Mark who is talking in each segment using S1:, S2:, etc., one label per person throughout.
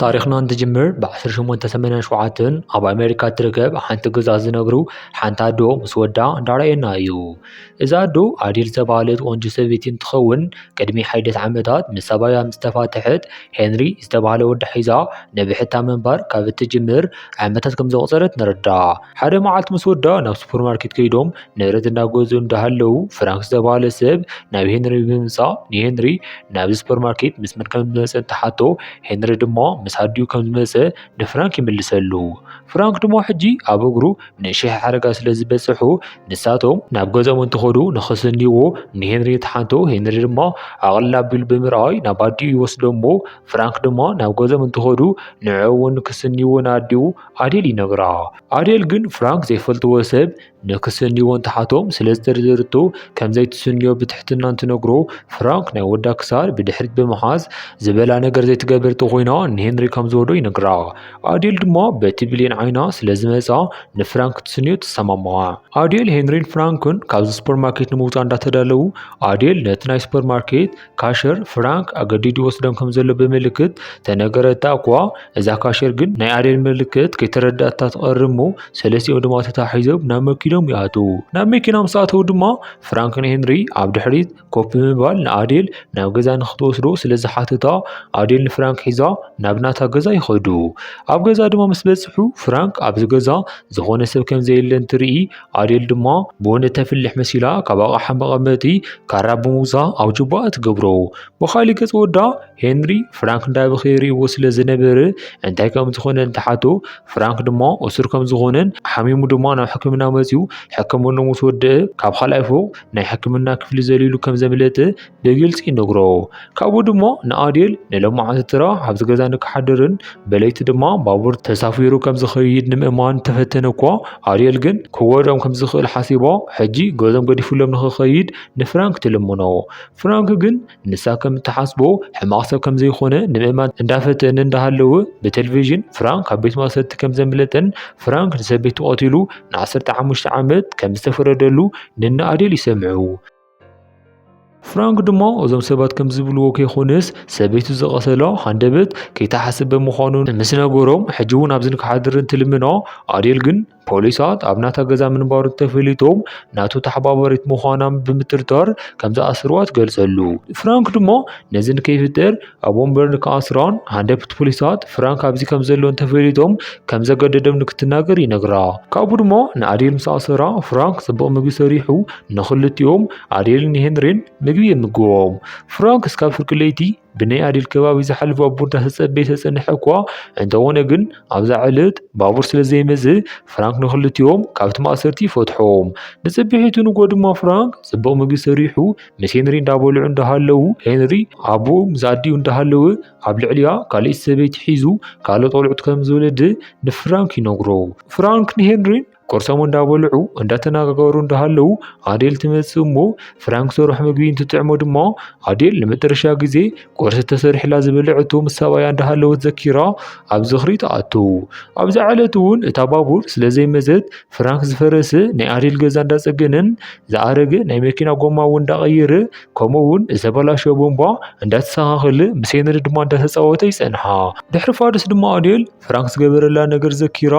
S1: ታሪኽና እንትጅምር ብ1887 ኣብ ኣሜሪካ እትርከብ ሓንቲ ገዛ ዝነብሩ ሓንቲ ኣዶ ምስ ወዳ እንዳርኣየና እዩ። እዛ ኣዶ ኣዴል ዝተባህለት ቆንጆ ሰበይቲ እንትኸውን ቅድሚ ሓደት ዓመታት ምስ ሰብኣያ ምስ ተፋተሐት ሄንሪ ዝተባህለ ወዳ ሒዛ ንብሕታ ምንባር ካብ እትጅምር ዓመታት ከም ዘቑፀረት ንርዳእ። ሓደ መዓልቲ ምስ ወዳ ናብ ሱፐርማርኬት ከይዶም። ንብረት እናገዙ እንዳሃለዉ ፍራንክ ዝተባህለ ሰብ ናብ ሄንሪ ብምምፃእ ንሄንሪ ናብዚ ሱፐርማርኬት ምስ መን ከም ዝመፀ እንትሓቶ ሄንሪ ድማ ምስ ኣዲኡ ከም ዝመፀ ንፍራንክ ይምልሰሉ። ፍራንክ ድማ ሕጂ ኣብ እግሩ ንእሽሕ ሓደጋ ስለ ዝበፅሑ ንሳቶም ናብ ገዝኦም እንትኸዱ ንኸሰንይዎ ንሄንሪ ተሓንቶ ሄንሪ ድማ ኣቕልል ኣቢሉ ብምርኣይ ናብ ኣዲኡ ይወስዶሞ ፍራንክ ድማ ናብ ገዝኦም እንትኸዱ ንዕኡ እውን ክስንይዎ ንኣዲኡ ኣዴል ይነግራ። ኣዴል ግን ፍራንክ ዘይፈልጥዎ ሰብ ንክስንይዎ እንትሓቶም ስለዝተደርደርቶ ከምዘይትስንዮ ብትሕትና እንትነግሮ ፍራንክ ናይ ወዳ ክሳድ ብድሕሪት ብምሓዝ ዝበላ ነገር ዘይትገብር ተኾይና ንሄንሪ ከምዝወዶ ይነግራ ኣዴል ድማ በቲ ብሌን ዓይና ስለዝመፃ ንፍራንክ ትስንዮ ትሰማምዓ ኣዴል ሄንሪን ፍራንክን ካብዚ ሱፐርማርኬት ንምውፃእ እንዳተዳለዉ ኣዴል ነቲ ናይ ሱፐርማርኬት ካሸር ፍራንክ ኣገዲዱ ይወስዶም ከም ዘሎ ብምልክት ተነገረታ እኳ እዛ ካሸር ግን ናይ ኣዴል ምልክት ከይተረዳእታ ትቐርብ እሞ ሰለስቲኦም ድማ ተታሒዞም ናብ መኪኖም ይኣትዉ። ናብ መኪና ምስ ኣተዉ ድማ ፍራንክ ንሄንሪ ኣብ ድሕሪት ኮፍ ብምባል ንኣዴል ናብ ገዛ ንክትወስዶ ስለ ዝሓተታ ኣዴል ንፍራንክ ሒዛ ናብ ናታ ገዛ ይኸዱ። ኣብ ገዛ ድማ ምስ በጽሑ ፍራንክ ኣብዚ ገዛ ዝኾነ ሰብ ከም ዘየለ እንትርኢ ኣዴል ድማ ቡን እተፍልሕ መሲላ ካብ ኣቕሓ መቐመጢ ካራ ብምውፃእ ኣብ ጁባኣ ትገብሮ። ብኻሊእ ገፅ ወዳ ሄንሪ ፍራንክ እንዳበኸየ ይርእይዎ ስለ ዝነበረ እንታይ ከም ዝኾነ እንትሓቶ ፍራንክ ድማ እሱር ከም ዝኾነን ሓሚሙ ድማ ናብ ሕክምና መፂኡ ሕክምኑ ምስ ወደአ ካብ ካልኣይ ፎቕ ናይ ሕክምና ክፍሊ ዘሊሉ ከም ዘምለጠ ብግልፂ ይነግሮ። ካብኡ ድሞ ንኣዴል ንለማዓንቲ ትራ ኣብዚ ገዛ ንክሓድርን በለይቲ ድማ ባቡር ተሳፊሩ ከም ዝኸይድ ንምእማን ተፈተነ እኳ ኣዴል ግን ክጎድኦም ከም ዝኽእል ሓሲባ ሕጂ ገዞም ገዲፉሎም ንክኸይድ ንፍራንክ ትልምኖ። ፍራንክ ግን ንሳ ከም እትሓስቦ ሕማቕ ሰብ ከም ዘይኮነ ንምእማን እንዳፈተነ እንዳሃለወ ብቴሌቪዥን ፍራንክ ካብ ቤት ማእሰርቲ ከም ዘምለጠን ፍራንክ ንሰበይቱ ቀቲሉ ንዓሰርተ ሓሙሽተ ዓመት ከም ዝተፈረደሉ ንነ ኣዴል ይሰምዑ። ፍራንክ ድማ እዞም ሰባት ከም ዝብልዎ ከይኮነስ ሰበይቱ ዝቐሰሎ ሃንደበት ከይተሓስብ ብምዃኑ ምስ ነገሮም ሕጂ እውን ኣብዚ ንክሓድር እንትልምኖ ኣዴል ግን ፖሊሳት ኣብ ናታ ገዛ ምንባሩ ተፈሊጦም ናቱ ተሓባበሪት ምዃናም ብምትርታር ከም ዝኣስርዋ ትገልጸሉ። ፍራንክ ድማ ነዚ ንከይፍጠር ኣብ ወንበርን ክኣስራን ሃንደብት ፖሊሳት ፍራንክ ኣብዚ ከም ዘሎ እንተፈሊጦም ከም ዘገደዶም ንክትናገር ይነግራ። ካብኡ ድማ ንኣዴል ምስ ኣሰራ ፍራንክ ጽቡቕ ምግቢ ሰሪሑ ንኽልቲኦም ኣዴልን ሄንሪን ምግቢ የምግቦም። ፍራንክ እስካብ ፍርቂ ለይቲ ብናይ ኣዴል ከባቢ ዝሓልፍ ባቡር እንዳተጸበየ ተጸንሐ እኳ እንተኾነ ግን ኣብዛ ዕለት ባቡር ስለ ዘይመጽእ ፍራንክ ንኽልቲኦም ካብቲ ማእሰርቲ ይፈትሖም። ንጽብሒቱ ንጎ ድማ ፍራንክ ጽቡቕ ምግቢ ሰሪሑ ምስ ሄንሪ እንዳበልዑ እንዳሃለዉ ሄንሪ ኣቦኡ ምስ ኣዲኡ እንዳሃለወ ኣብ ልዕሊያ ካልእ ሰበይቲ ሒዙ ካልኦት ቆልዑት ከም ዝወለደ ንፍራንክ ይነግሮ። ፍራንክ ንሄንሪን ቁርሶም እንዳበልዑ እንዳተነጋገሩ እንዳሃለዉ ኣዴል ትመጽእ እሞ ፍራንክ ሰርሖ ምግቢ እንትጥዕሞ ድማ ኣዴል ንመጨረሻ ግዜ ቁርሲ ተሰሪሕላ ዝበልዐቶ ምስ ሰብኣያ እንዳሃለወት ዘኪራ ኣብ ዝኽሪ ትኣቱ። ኣብዛ ዕለት እውን እታ ባቡር ስለ ዘይመዘት ፍራንክ ዝፈረሰ ናይ ኣዴል ገዛ እንዳጸገነን ዝኣረገ ናይ መኪና ጎማ እውን እንዳቐየረ ከምኡ እውን ዝተበላሸ ቦምባ እንዳተሰኻኸለ ምስ ሄንሪ ድማ እንዳተጻወተ ይጸንሓ። ድሕሪ ፋርስ ድማ ኣዴል ፍራንክ ዝገበረላ ነገር ዘኪራ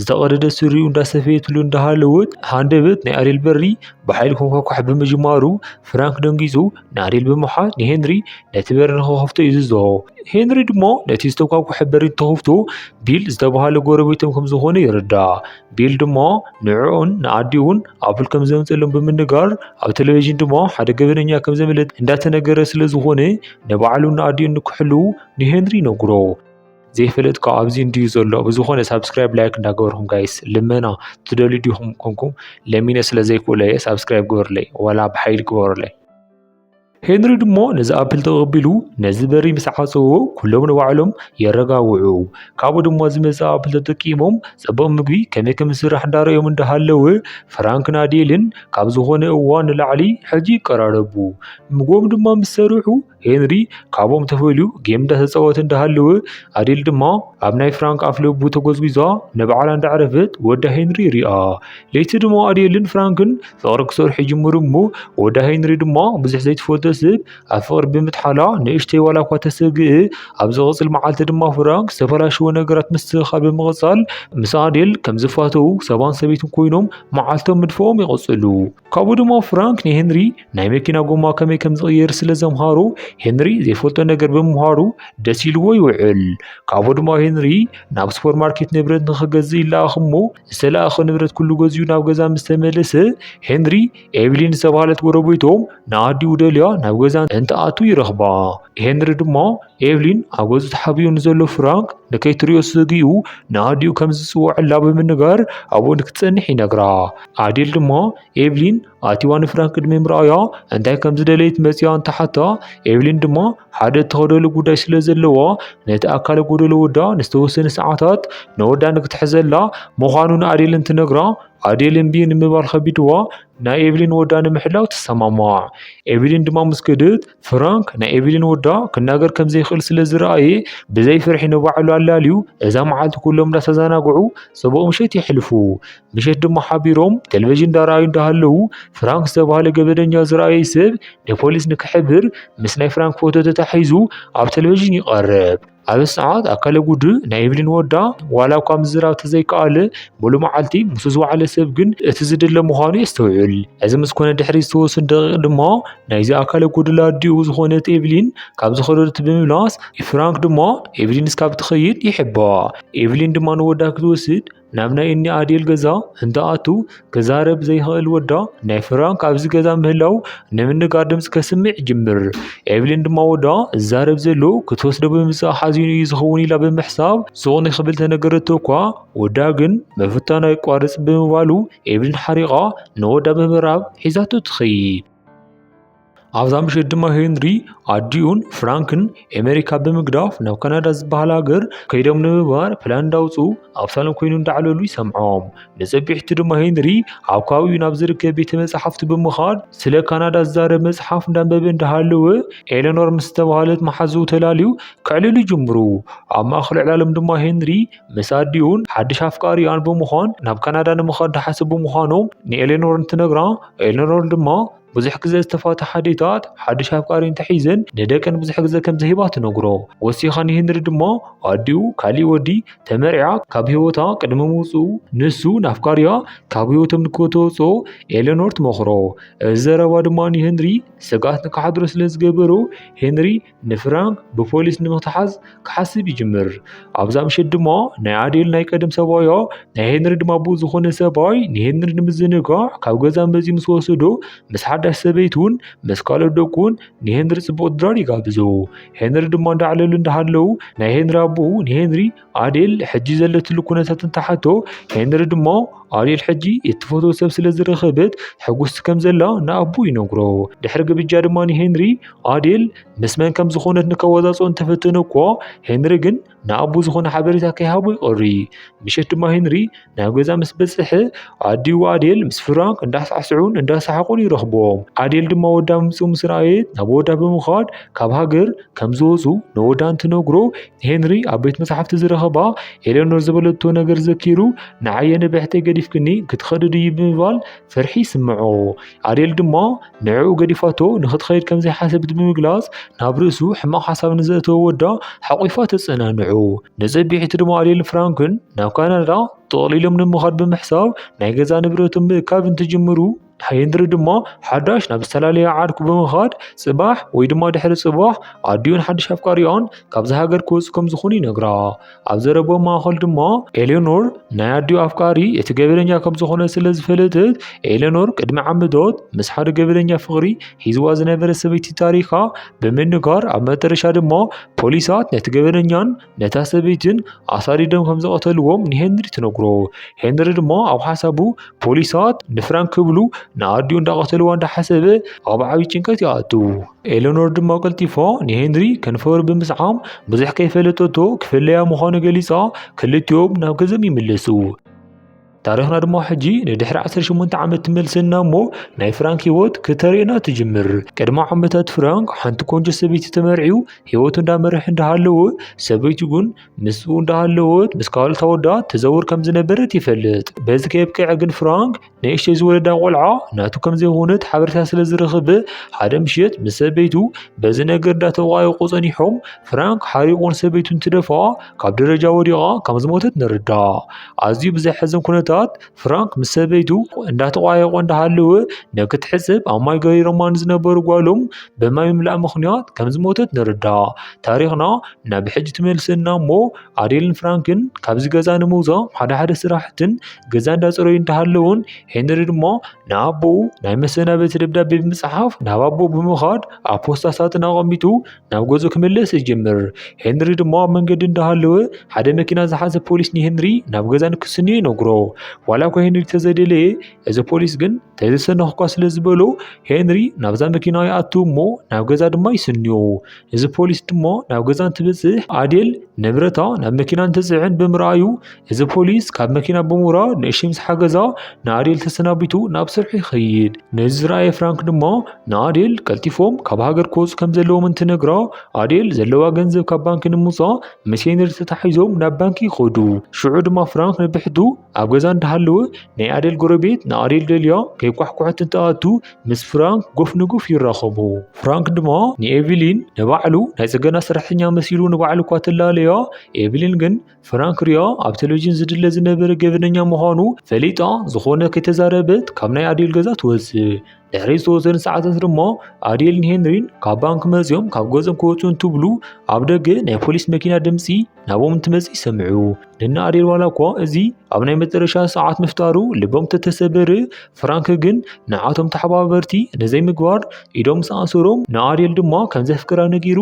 S1: ዝተቐደደ ስሪኡ እንዳሰፈየትሉ እንዳሃለወት ሃንደበት ናይ ኣዴል በሪ ብሓይሊ ኮንኳኳሕ ብምጅማሩ ፍራንክ ደንጊጹ ናሪል ብምሓዝ ንሄንሪ ነቲ በሪ ንኸኸፍቶ ይዝዞ ሄንሪ ድሞ ነቲ ዝተጓጉሐ በሪ ተኸፍቶ ቢል ዝተባሃለ ጎረቤቶም ከም ዝኾነ ይርዳእ ቢል ድሞ ንዕኡን ንኣዲኡን ኣብል ከም ዘምፅሎም ብምንጋር ኣብ ቴሌቭዥን ድሞ ሓደ ገበነኛ ከም ዘምልጥ እንዳተነገረ ስለ ዝኾነ ንባዕሉን ንኣዲኡን ንክሕልው ንሄንሪ ይነግሮ ዘይፈልጥ ካብ ኣብዚ እንድዩ ዘሎ ብዝኾነ ሳብስክራይብ ላይክ እንዳገበርኩም ጋይስ ልመና ትደልዩ ዲኹም ኮንኩም ለሚነ ስለ ዘይክእሎ እየ ሳብስክራይብ ግበሩለይ ዋላ ብሓይሊ ግበሩለይ ሄንሪ ድሞ ነዚ ኣፕል ተቐቢሉ ነዚ በሪ ምስ ዓፀዎ ኩሎም ንባዕሎም የረጋውዑ ካብኡ ድማ ዝመፀ ኣፕል ተጠቂሞም ፅቡቕ ምግቢ ከመይ ከም ዝስራሕ እንዳረዮም እንዳሃለወ ፍራንክን ኣዴልን ካብ ዝኾነ እዋን ንላዕሊ ሕጂ ይቀራረቡ ምግቦም ድማ ምስ ሰርሑ ሄንሪ ካብኦም ተፈልዩ ጌም እንዳተፃወተ እንዳሃለወ ኣዴል ድማ ኣብ ናይ ፍራንክ ኣፍ ለቡ ተጎዝጒዛ ንባዕላ እንዳዕረፈት ወዳ ሄንሪ ይሪኣ። ለይቲ ድማ ኣዴልን ፍራንክን ፍቕሪ ክሰርሑ ይጅምሩ እሞ ወዳ ሄንሪ ድማ ብዙሕ ዘይትፈልጦ ሰብ ኣብ ፍቕሪ ብምጥሓላ ንእሽተይ ዋላ እኳ ተሰግእ ኣብ ዝቕፅል መዓልቲ ድማ ፍራንክ ዝተበላሸወ ነገራት ምስትኽኻል ብምቕፃል ምስ ኣዴል ከም ዝፋተዉ ሰባን ሰበይትን ኮይኖም መዓልቶም ምድፋኦም ይቕፅሉ። ካብኡ ድማ ፍራንክ ንሄንሪ ናይ መኪና ጎማ ከመይ ከም ዝቕየር ስለ ዘምሃሮ ሄንሪ ዘይፈልጦ ነገር ብምምሃሩ ደስ ኢልዎ ይውዕል። ካብኡ ድማ ሄንሪ ናብ ሱፐርማርኬት ንብረት ንኽገዝእ ይለኣኽ እሞ ዝተለኣኸ ንብረት ኩሉ ገዚኡ ናብ ገዛ ምስ ተመለሰ ሄንሪ ኤቭሊን ዝተባህለት ጎረቤቶም ንኣዲኡ ደልያ ናብ ገዛ እንትኣቱ ይረኽባ። ሄንሪ ድማ ኤቭሊን ኣብ ገዝኡ ተሓቢኡ ንዘሎ ፍራንክ ንከይትሪኦ ስግኡ ንኣዲኡ ከም ዝፅውዐላ ብምንጋር ኣብኡ ንክትፀንሕ ይነግራ። ኣዴል ድማ ኤቭሊን ኣቲዋ ንፍራን ቅድሚ ምርኣያ እንታይ ከም ዝደለየት መጺኣ እንተሓታ ኤቭሊን ድማ ሓደ እተኸደሉ ጉዳይ ስለ ዘለዎ ነቲ ኣካለ ጎደሎ ወዳ ንዝተወሰነ ሰዓታት ንወዳ ንክትሕዘላ ምዃኑ ንኣዴል እንትነግራ ኣዴል እምቢ ንምባል ከቢድዋ ናይ ኤቭሊን ወዳ ንምሕላው ትሰማማዕ። ኤቭሊን ድማ ምስ ከደት ፍራንክ ናይ ኤቭሊን ወዳ ክናገር ከም ዘይክእል ስለ ዝረኣየ ብዘይ ፍርሒ ንባዕሉ ኣላልዩ እዛ መዓልቲ ኩሎም እንዳተዘናግዑ ጽቡቕ ምሸት የሕልፉ። ምሸት ድማ ሓቢሮም ቴሌቪዥን ዳራዩ እንዳሃለዉ ፍራንክ ዝተባህለ ገበደኛ ዝረኣየ ሰብ ንፖሊስ ንክሕብር ምስ ናይ ፍራንክ ፎቶ ተታሒዙ ኣብ ቴሌቪዥን ይቐርብ። ኣብ ሰዓት ኣካለ ጉዱ ናይ ኢቭሊን ወዳ ዋላ እኳ ምዝራብ ተዘይከኣለ ሙሉእ መዓልቲ ምስ ዝወዓለ ሰብ ግን እቲ ዝድለ ምዃኑ የስተውዕል። እዚ ምስ ኮነ ድሕሪ ዝተወሰኑ ደቂቕ ድማ ናይዚ ኣካለ ጉዱላ ኣዲኡ ዝኾነት ኤቭሊን ካብ ዝኸደት ብምምላስ ፍራንክ ድማ ኤቭሊን እስካብ ትኸይድ ይሕባ። ኤቭሊን ድማ ንወዳ ክትወስድ ናብ ናይ እኒ ኣዴል ገዛ እንትኣቱ ክዛረብ ዘይክእል ወዳ ናይ ፍራንክ ኣብዚ ገዛ ምህላው ንምንጋር ድምፂ ከስምዕ ይጅምር። ኤቭሊን ድማ ወዳ ዝዛረብ ዘሎ ክትወስዶ ብምምፃእ ሓዚኑ እዩ ዝኸውን ኢላ ብምሕሳብ ሱቕ ንክብል ተነገረቶ እኳ ወዳ ግን ምፍታኑ ኣይቋርፅ ብምባሉ ኤቭሊን ሓሪቓ ንወዳ ብምብራብ ሒዛቶ ትኸይድ። ኣብዛ ምሸት ድማ ሄንሪ ኣዲኡን ፍራንክን ኣሜሪካ ብምግዳፍ ናብ ካናዳ ዝበሃል ሃገር ከይዶም ንምባር ፕላን እንዳውፅኡ ኣብ ሳሎን ኮይኑ እንዳዕለሉ ይሰምዖም ንፅብሒቱ ድማ ሄንሪ ኣብ ከባቢኡ ናብ ዝርከብ ቤተ መፅሓፍቲ ብምኻድ ስለ ካናዳ ዝዛረብ መፅሓፍ እንዳንበበ እንዳሃለወ ኤለኖር ምስ ዝተባሃለት መሓዝኡ ተላልዩ ከዕልሉ ይጅምሩ ኣብ ማእኸል ዕላሎም ድማ ሄንሪ ምስ ኣዲኡን ሓድሽ ኣፍቃሪኣን ብምዃን ናብ ካናዳ ንምኻድ ድሓሰቡ ምዃኖም ንኤሌኖር እንትነግራ ኤሌኖር ድማ ብዙሕ ግዘ ዝተፋትሓ ኣዴታት ሓዱሽ ኣፍቃሪ እንተሒዘን ንደቀን ብዙሕ ግዘ ከምዘይህባ ትነግሮ። ወሲኻ ንሄንሪ ድማ ኣዲኡ ካሊእ ወዲ ተመርዒያ ካብ ህይወታ ቅድሚ ምውፅኡ ንሱ ንኣፍቃሪያ ካብ ህይወቶም ንክተወፅኦ ኤለኖር ትመኽሮ። እዚ ዘረባ ድማ ንሄንሪ ስግኣት ንክሓድሮ ስለዝገበሮ ሄንሪ ንፍራንክ ብፖሊስ ንምክትሓዝ ክሓስብ ይጅምር። ኣብዛ ምሸት ድማ ናይ ኣዴል ናይ ቀደም ሰብኣዮ ናይ ሄንሪ ድማ ብኡ ዝኾነ ሰብኣይ ንሄንሪ ንምዝንጋዕ ካብ ገዛ መዚ ምስ ወሰዶ ምስ ሓዳሽ ሰበይቱን ምስ ካልኦት ደቁን ንሄንሪ ጽቡቕ ድራር ይጋብዞ። ሄንሪ ድማ እንዳዕለሉ እንዳሃለዉ ናይ ሄንሪ ኣቦኡ ንሄንሪ ኣዴል ሕጂ ዘለትሉ ኩነታት እንተሓቶ ሄንሪ ድማ ኣዴል ሕጂ እትፈትዎ ሰብ ስለ ዝረኸበት ሕጉስቲ ከም ዘላ ንኣቡ ይነግሮ። ድሕሪ ግብጃ ድማ ንሄንሪ ኣዴል ምስ መን ከም ዝኾነት ንከወዛጾ እንተፈተነ እኳ ሄንሪ ግን ንኣቡ ዝኾነ ሓበሬታ ከይሃቦ ይቐሪ። ምሸት ድማ ሄንሪ ናብ ገዛ ምስ በጽሐ ኣዲኡ ኣዴል ምስ ፍራንክ እንዳሳዕስዑን እንዳሰሓቑን ይረኽቦም። ኣዴል ድማ ወዳ ምምጽኡ ምስ ረኣየት ናብ ወዳ ብምኻድ ካብ ሃገር ከም ዝወጹ ንወዳ እንትነግሮ ሄንሪ ኣብ ቤት መጽሓፍቲ ዝረኸባ ኤሌኖር ዝበለቶ ነገር ዘኪሩ ንዓየ ንብሕተይ ገዲፍክኒ ክትኸዲ ድዩ ብምባል ፍርሒ ይስምዖ። ኣዴል ድማ ንዕኡ ገዲፋቶ ንኽትኸይድ ከም ዘይሓሰብት ብምግላጽ ናብ ርእሱ ሕማቕ ሓሳብ ንዘእተወ ወዳ ሓቝፋ ተጸናንዑ። ንጽብሒቱ ድማ ኣዴልን ፍራንክን ናብ ካናዳ ጠቕሊሎም ንምኻድ ብምሕሳብ ናይ ገዛ ንብረቶም ምእካብ እንትጅምሩ ሄንሪ ድማ ሓዳሽ ናብ ዝተፈላለየ ዓርኩ ብምኻድ ጽባሕ ወይ ድማ ድሕሪ ጽባሕ ኣዲኡን ሓድሽ ኣፍቃሪኣን ካብዚ ሃገር ክወጹ ከም ዝኾኑ ይነግራ። ኣብ ዘረብኦም ማእኸል ድማ ኤሌኖር ናይ ኣዲኡ ኣፍቃሪ እቲ ገበለኛ ከም ዝኾነ ስለ ዝፈለጥት ኤሌኖር ቅድሚ ዓመታት ምስ ሓደ ገበለኛ ፍቕሪ ሂዝዋ ዝነበረ ሰበይቲ ታሪኻ ብምንጋር ኣብ መጠረሻ ድማ ፖሊሳት ነቲ ገበለኛን ነታ ሰበይትን ኣሳዲዶም ከም ዝቐተልዎም ንሄንሪ ትነግሮ። ሄንሪ ድማ ኣብ ሓሳቡ ፖሊሳት ንፍራንክ ክብሉ ንኣዲኡ እንዳቐተልዋ እንዳሓሰበ ኣብ ዓብዪ ጭንቀት ይኣቱ። ኤለኖር ድማ ቀልጢፋ ንሄንሪ ከንፈሩ ብምስዓም ብዙሕ ከይፈለጠቶ ክፍለያ ምዃኑ ገሊጻ ክልቲኦም ናብ ገዘም ይምለሱ። ታሪኽና ድማ ሕጂ ንድሕሪ 18 ዓመት ትመልሰና እሞ ናይ ፍራንክ ህይወት ክተርእየና ትጅምር። ቅድሚ ዓመታት ፍራንክ ሓንቲ ቆንጆ ሰበይቲ ተመርዒው ህይወቱ እንዳመርሕ እንዳሃለወ ሰበይቱ ግን ምስኡ እንዳሃለወት ምስ ካልኦት ኣወዳት ተዘውር ከም ዝነበረት ይፈልጥ። በዚ ከየብቅዐ ግን ፍራንክ ንእሽተይ ዝወለዳ ቆልዓ ናቱ ከም ዘይኮነት ሓበሬታ ስለ ዝረኽበ ሓደ ምሽት ምስ ሰበይቱ በዚ ነገር እንዳተቋየቁ ጸኒሖም ፍራንክ ሓሪቑን ሰበይቱ እንትደፋ ካብ ደረጃ ወዲቓ ከም ዝሞተት ንርዳእ። ኣዝዩ ብዘሕዝን ኩነታት ፍራንክ ምስ ሰበይቱ እንዳተቋየቁ እንዳሃለወ ንክትሕጽብ ኣብ ማይ ገሪሮማ ንዝነበሩ ጓሎም ብማይ ምምላእ ምኽንያት ከም ዝሞተት ንርዳእ። ታሪኽና ናብ ሕጂ ትመልሰና እሞ ኣዴልን ፍራንክን ካብዚ ገዛ ንምውጻእ ሓደ ሓደ ስራሕትን ገዛ እንዳፀረዩ እንተሃለውን ሄንሪ ድማ ንኣቦኡ ናይ መሰናበቲ ደብዳቤ ብምፅሓፍ ናብ ኣቦ ብምኻድ ኣብ ፖስታ ሳጥን ኣቐሚጡ ናብ ገዙ ክምለስ ይጀምር። ሄንሪ ድማ ኣብ መንገዲ እንዳሃለወ ሓደ መኪና ዝሓዘ ፖሊስ ንሄንሪ ናብ ገዛ ንክስንዮ ይነግሮ። ዋላ እኳ ሄንሪ ተዘደለየ እዚ ፖሊስ ግን ተዘሰነኽኳ ስለ ዝበሎ ሄንሪ ናብዛ መኪና ይኣቱ እሞ ናብ ገዛ ድማ ይስንዮ። እዚ ፖሊስ ድማ ናብ ገዛ እንትበፅሕ ኣዴል ንብረታ ናብ መኪና እንትፅዕን ብምርኣዩ እዚ ፖሊስ ካብ መኪና ብምውራድ ንእሽተይ ምስ ሓገዛ ንኣዴል ተሰናቢቱ ናብ ስርሑ ይኸይድ። ነዚ ዝረኣየ ፍራንክ ድማ ንኣዴል ቀልጢፎም ካብ ሃገር ክወፁ ከም ዘለዎም እንትነግራ ኣዴል ዘለዋ ገንዘብ ካብ ባንኪ ንምውፃእ ምስ ሄንሪ ተታሒዞም ናብ ባንኪ ይኸዱ። ሽዑ ድማ ፍራንክ ንብሕቱ ኣብ ገዛ እንዳሃለወ ናይ ኣዴል ጎረቤት ንኣዴል ደልያ ከይኳሕኩሐት እንትኣቱ ምስ ፍራንክ ጎፍ ንጉፍ ይራኸቡ። ፍራንክ ድማ ንኤቪሊን ንባዕሉ ናይ ጽገና ሰራሕተኛ መሲሉ ንባዕሉ እኳ ተላለያ፣ ኤቪሊን ግን ፍራንክ ሪያ ኣብ ቴሌቪዥን ዝድለ ዝነበረ ገበነኛ ምዃኑ ፈሊጣ ዝኾነ ከይተዛረበት ካብ ናይ ኣዴል ገዛ ትወጽእ። ድሕሪ ዝተወሰነ ሰዓታት ድማ ኣዴልን ሄንሪን ካብ ባንክ መፅዮም ካብ ገዝኦም ክወፁ እንትብሉ ኣብ ደገ ናይ ፖሊስ መኪና ድምፂ ናብኦም እንትመፅእ ይሰምዑ። ንና ኣዴል ዋላ እኳ እዚ ኣብ ናይ መጨረሻ ሰዓት ምፍጣሩ ልቦም ተተሰበረ፣ ፍራንክ ግን ንዓቶም ተሓባበርቲ ነዘይ ምግባር ኢዶም ምስ ኣእሰሮም ንኣዴል ድማ ከም ዘፍቅራ ነጊሩ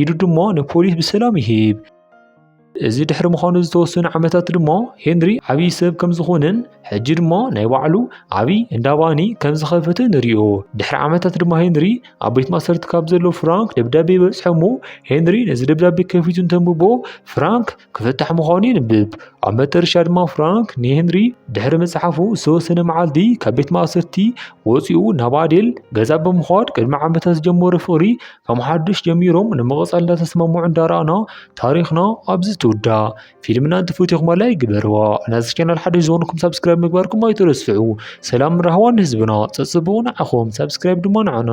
S1: ኢዱ ድማ ንፖሊስ ብሰላም ይህብ። እዚ ድሕሪ ምዃኑ ዝተወሰኑ ዓመታት ድማ ሄንሪ ዓብዪ ሰብ ከም ዝኾነን ሕጂ ድማ ናይ ባዕሉ ዓብዪ እንዳ ባኒ ከም ዝኸፈተ ንሪኦ። ድሕሪ ዓመታት ድማ ሄንሪ ኣብ ቤት ማእሰርቲ ካብ ዘሎ ፍራንክ ደብዳቤ ይበጽሖ እሞ ሄንሪ ነዚ ደብዳቤ ከፊቱ እንተንብቦ ፍራንክ ክፍታሕ ምዃኑ የንብብ። ኣብ መጠረሻ ድማ ፍራንክ ንሄንሪ ድሕሪ መጽሓፉ ዝተወሰነ መዓልቲ ካብ ቤት ማእሰርቲ ወፂኡ ናብ ኣዴል ገዛ ብምዃድ ቅድሚ ዓመታት ዝጀመሮ ፍቕሪ ከም ሓዱሽ ጀሚሮም ንምቕፃል እንዳተስማምዑ እንዳረኣና ታሪኽና ኣብዚ ትውዳእ ፊልምና እንትፍትዩ ክማላ ይግበርዋ ናዚ ቻናል ሓዱሽ ዝኾንኩም ሰብስክራይብ ምግባርኩም ኣይትረስዑ ሰላም ራህዋን ህዝብና ፀፅብኡ ንዓኹም ሰብስክራይብ ድማ ንዓና